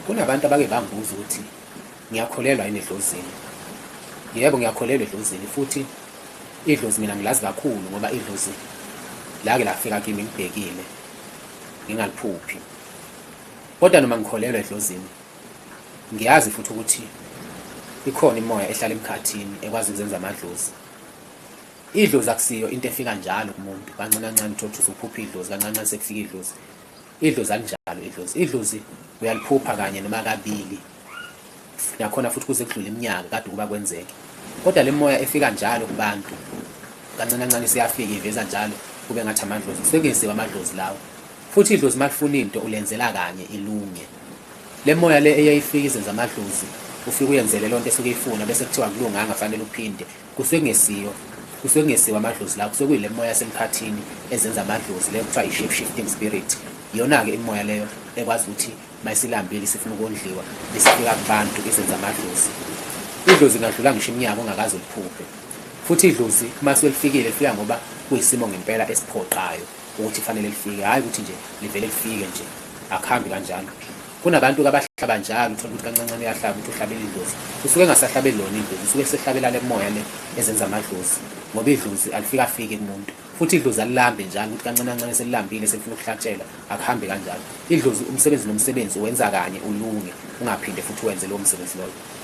Kunabantu abake bangibuza ukuthi ngiyakholelwa yini edlozini. Yebo ngiyakholelwa edlozini futhi idlozi mina ngilazi kakhulu ngoba idlozi lake lafika kimi ngibhekile ngingaliphuphi. Kodwa noma ngikholelwa edlozini ngiyazi futhi ukuthi ikhona imoya ehlala emkhathini ekwazi ukuzenza amadlozi. Idlozi akusiyo into efika njalo kumuntu kancane kancane uthothusa uphupha idlozi kancane kancane sekufika idlozi. Idlozi alinjalo idlozi. Idlozi uyaliphupha kanye noma kabili. Nakhona futhi kuze kudlule iminyaka kade ukuba kwenzeke. Kodwa le moya efika njalo kubantu kancane kancane siyafika iveza njalo kube ngathi amadlozi sekenziwa amadlozi lawo. Futhi idlozi malifuna into ulenzela kanye ilunge. Le moya le eyayifika izenza amadlozi ufike uyenzele lonto esuke ifuna bese kuthiwa kulunganga fanele uphinde kusengesiyo kusengesiwa amadlozi la kusekuyile moya yasemkhathini ezenza amadlozi leyo kuthiwa yi-shape shifting spirit iyona-ke imimoya leyo ekwazi ukuthi mayisilambile isifuna ukondliwa isifika kubantu izenza amadlozi idlozi ingadlula ngisho iminyaka ongakaze uliphuphe futhi idlozi uma selifikile lifika ngoba kuyisimo ngempela esiphoqayo ukuthi kufanele lifike hhayi ukuthi nje livele lifike nje akuhambi kanjalo kunabantu kabahlaba njalo uthola ukuthi kancancane uyahlaba ukuthi uhlabela idlozi usuke engasahlabeli lona idlozi usuke esehlabela le moya le ezenza amadlozi ngoba idlozi alifika afike kumuntu futhi idlozi alilambe njalo ukuthi kancane kancane selilambile selifuna ukuhlatshelwa akuhambe kanjalo idlozi umsebenzi nomsebenzi wenza kanye ulunge ungaphinde futhi wenze lowo msebenzi loyo